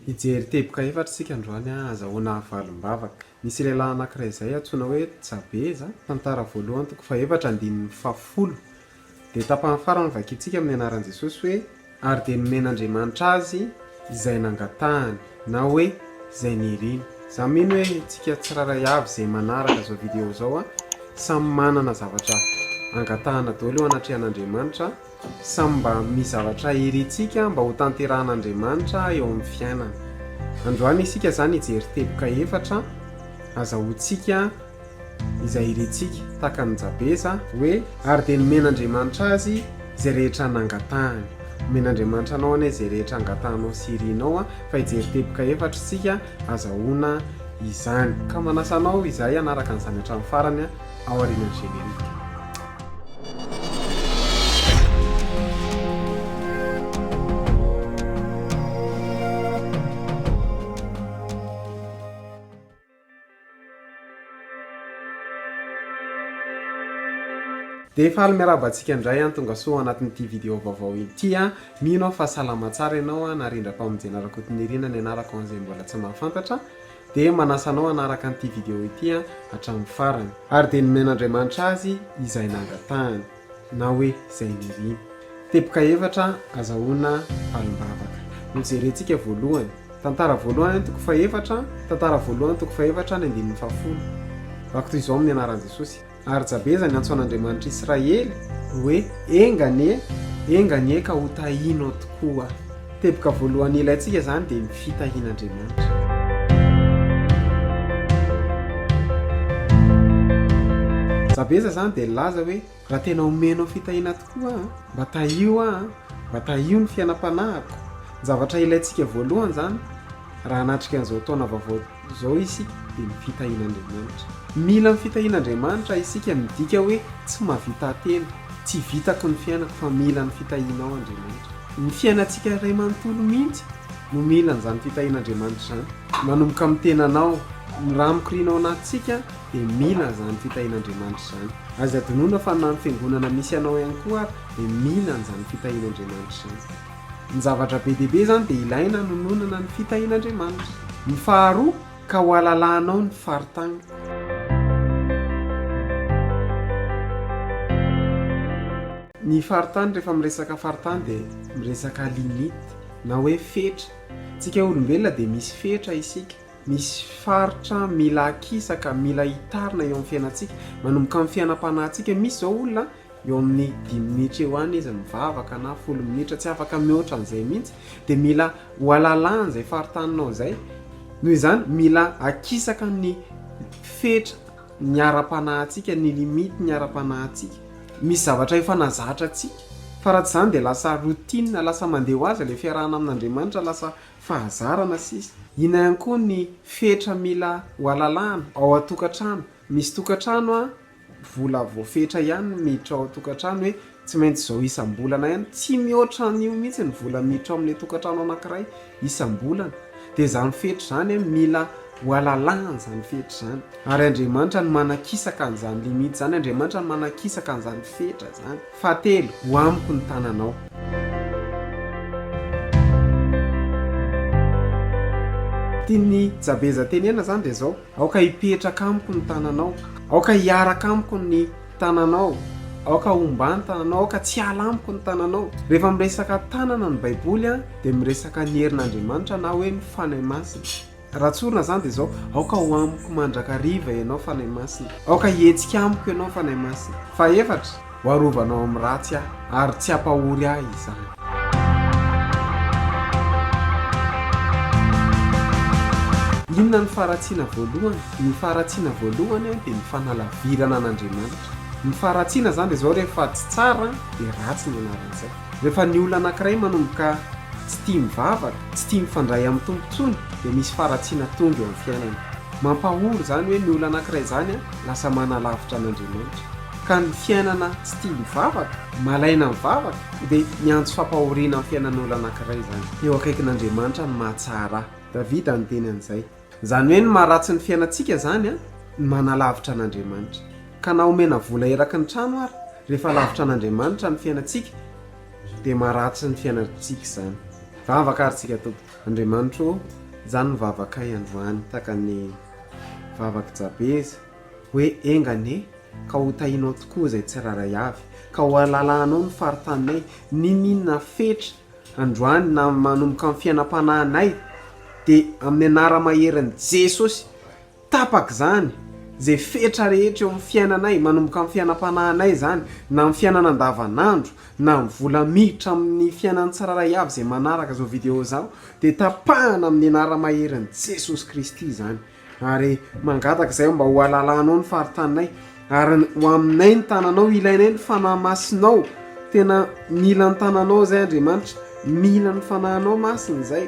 Hijery teboka efatra isika androany, azahoana havalim-bava. Nisy lehilahy anankiray izay antsoina hoe Jabeza, Tantara voalohany toko fahefatra andininy fahafolo. Dia tapany farany no vakintsika amin'ny anaran'i Jesosy hoe, Ary dia nomen'Andriamanitra azy izay nangatahany, na hoe izay niriny. Izaho mino hoe isika tsirairay avy izay manaraka izao video izao, samy manana zavatra angatahana daholo eo anatrehan'Andriamanitra. Samy mba amin'ny zavatra irintsika mba hotanterahan'Andriamanitra eo amin'ny fiainana. Androany isika izany hijery teboka efatra azahoantsika izay irintsika, tahaka an'i Jabeza, hoe ary dia nomen'Andriamanitra azy izay rehetra nangatahany. Omen'Andriamanitra anao anie izay rehetra angatahanao sy irinao an, fa hijery teboka efatra isika azahoana izany. Ka manasa anao izahay hanaraka an'izany hatramin'ny farany an. ao aorianan'ny générique. Dia faly miarahaba antsika indray an, tonga soa anatin'ity vidéo vaovao ity an. Mino aho fa salama tsara ianao an, Narindra-pamonjena Rakotonirina ny anarako ho an'izay mbola tsy mahafantatra. Dia manasa anao hanaraka an'ity video ity hatramin'ny farany. Ary dia nomen'Andriamanitra azy izay nangatahany, na hoe izay niriany. Teboka efatra azahoana valim-bavaka. Nojerentsika voalohany. Tantara voalohany any toko fahefatra, tantara voalohany toko fahefatra ny andininy fahafolo. Vakitoy izao amin'ny anaran'i Jesosy. Ary Jabeza niantso an'Andriamanitr'i Israely hoe, Enga anie, enga anie ka hotahinao tokoa. Teboka voalohany ilaintsika izany dia ny fitahian'Andriamanitra. Jabeza izany dia nilaza hoe, Raha tena homenao fitahiana tokoa aho, mba tahio aho, mba tahio ny fiainam-panahiko. Ny zavatra ilaintsika voalohany izany raha hanatrika an'izao taona vaovao Izao isika dia ny fitahian'Andriamanitra. Mila ny fitahian'Andriamanitra isika midika hoe tsy mahavita tena, tsy vitako ny fiainako fa mila ny fitahianao Andriamanitra. Ny fiainantsika iray manontolo mihitsy no mila an'izany fitahian'Andriamanitra izany. Manomboka amin'ny tenanao, ny raha mikoriana ao anatintsika dia mila an'izany fitahian'Andriamanitra izany. Aza adinoina fa na ny fiangonana misy anao ihany koa ary dia mila an'izany fitahian'Andriamanitra izany. Ny zavatra be dia be izany dia ilaina hanononana ny fitahian'Andriamanitra. Ny faharoa, ka hohalalahanao ny faritany. Ny faritany, rehefa miresaka faritany dia miresaka limite na hoe fetra. Isika olombelona dia misy fetra isika, misy faritra mila akisaka, mila hitarina eo amin'ny fiainantsika, manomboka amin'ny fiainam-panahintsika. Misy izao olona an! eo amin'ny dimy minitra eo any izy mivavaka na folo minitra tsy afaka mihoatra an'izay mihitsy dia mila ho alalahany izay faritaninao izay noho izany mila akisaka ny fetra ny ara-panahintsika ny limite ny ara-panahintsika misy zavatra efa nazatra antsika fa raha tsy izany dia lasa routine lasa mandeha ho azy ilay fiarahana amin'Andriamanitra lasa fahazarana sisa inona ihany koa ny fetra mila ho alalahana ao an-tokantrano misy tokantrano an vola voafetra ihany no miditra ao an-tokantrano hoe tsy maintsy izao isam-bolana ihany, tsy mihoatra an'io mihitsy ny vola miditra ao amin'ilay tokantrano anankiray isam-bolana, dia izany fetra izany an, mila hohalalahana izany fetra izany, ary Andriamanitra no manakisaka an'izany limite izany, Andriamanitra no manakisaka an'izany fetra izany, fahatelo, ho amiko ny tananao. Tian'i Jabeza tenenina izany dia izao, Aoka hipetraka amiko ny tananao. Aoka hiaraka amiko ny tananao. Aoka homba ny tananao. Aoka tsy hiala amiko ny tananao. Rehefa miresaka tanana ny Baiboly dia miresaka ny herin'Andriamanitra na hoe ny Fanahy Masina. Raha tsorina izany dia izao, Aoka ho amiko mandrakariva ianao Fanahy Masina. Aoka hihetsika amiko ianao Fanahy Masina. Fahefatra, Ho arovanao amin'ny ratsy aho, ary tsy hampahory ahy izany. Inona no faharatsiana voalohany? Ny faharatsiana voalohany dia ny fanalavirana an'Andriamanitra. Ny faharatsiana izany dia izao, rehefa tsy tsara dia ratsy ny anaran'izay. Rehefa ny olona anankiray manomboka tsy tia mivavaka, tsy tia mifandray amin'ny Tompo intsony, dia misy faharatsiana tonga eo amin'ny fiainany. Mampahory izany hoe ny olona anankiray izany, lasa manalavitra an'Andriamanitra, ka ny fiainana tsy tia mivavaka, malaina mivavaka, dia miantso fampahoriana amin'ny fiainan'olona anankiray izany. Eo akaikin'Andriamanitra ny mahatsara ahy. Davida niteny an'izay. Izany hoe ny maharatsy ny fiainantsika izany no manalavitra an'Andriamanitra. Ka na omena vola eraky ny trano ary, rehefa lavitra an'Andriamanitra ny fiainantsika, dia maharatsy ny fiainantsika izany. Vavaka ary isika tompoko. Andriamanitra o, izany ny vavakay androany, tahaka ny. Vavak'i Jabeza, hoe enga anie ka ho tahinao tokoa izay tsirairay avy, ka ho alalahanao ny faritaninay, n'inon'inona fetra androany na manomboka ny fiainam-panahinay, dia amin'ny anara-maherin'i Jesosy, tapaka izany, izay fetra rehetra eo amin'ny fiainanay, manomboka amin'ny fiainam-panahinay izany, na amin'ny fiainana andavanandro, na ny vola miditra amin'ny fiainan'ny tsirairay avy izay manaraka izao video izao, dia tapahana amin'ny anara-maherin'i Jesosy Kristy izany ary mangataka izay aho mba ho alalanao ny faritaninay ary ho aminay ny tananao ilainay ny fanahy masinao tena mila ny tananao izay Andriamanitra mila ny fanahinao masina izay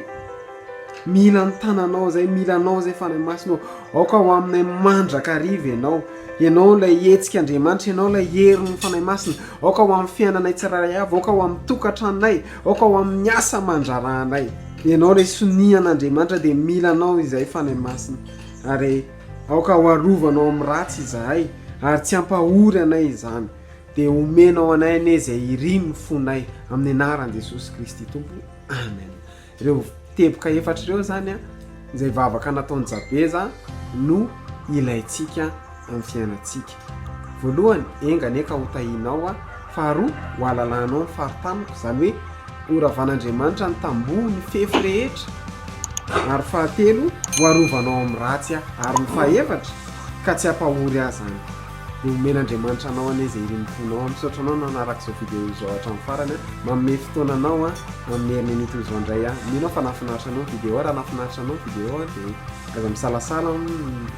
mila ny tananao izay mila anao izay fanahy masinao aoka ho aminay mandraka riva ianao ianao ilay hetsika Andriamanitra ianao ilay herin'ny fanahy masina aoka ho amin'ny fiainanay tsirairay avy aoka ho amin'ny tokantranonay Aoka ho amin'ny asa aman-draharahanay. Ianao ilay sonia an'Andriamanitra dia mila anao izahay Fanahy Masina ary aoka ho arovanao amin'ny ratsy izahay ary tsy hampahory anay izany dia omenao anay anie izay irin' ny fonay amin'ny anaran'i Jesosy Kristy Tompo Amen ireo teboka efatra ireo zany a izay vavaka nataon'i Jabeza no ilaintsika amin'ny fiainantsika. Voalohany, enga anie ka ho tahinao aho. Faharoa, ho alalanao ny fari-taniko, izany hoe horavan'Andriamanitra ny tamboho, ny fefy rehetra. Ary fahatelo, ho arovanao amin'ny ratsy aho. Ary ny fahefatra, ka tsy hampahory ahy izany. Dia homen'Andriamanitra anao anie izay irim-ponao. Misaotra anao nanaraka izao video izao hatramin'ny farany. Manome fotoana anao amin'ny heriny an'ito izao indray aho. Mino aho fa nahafinaritra anao ny video. Raha nahafinaritra anao ny video dia aza misalasala.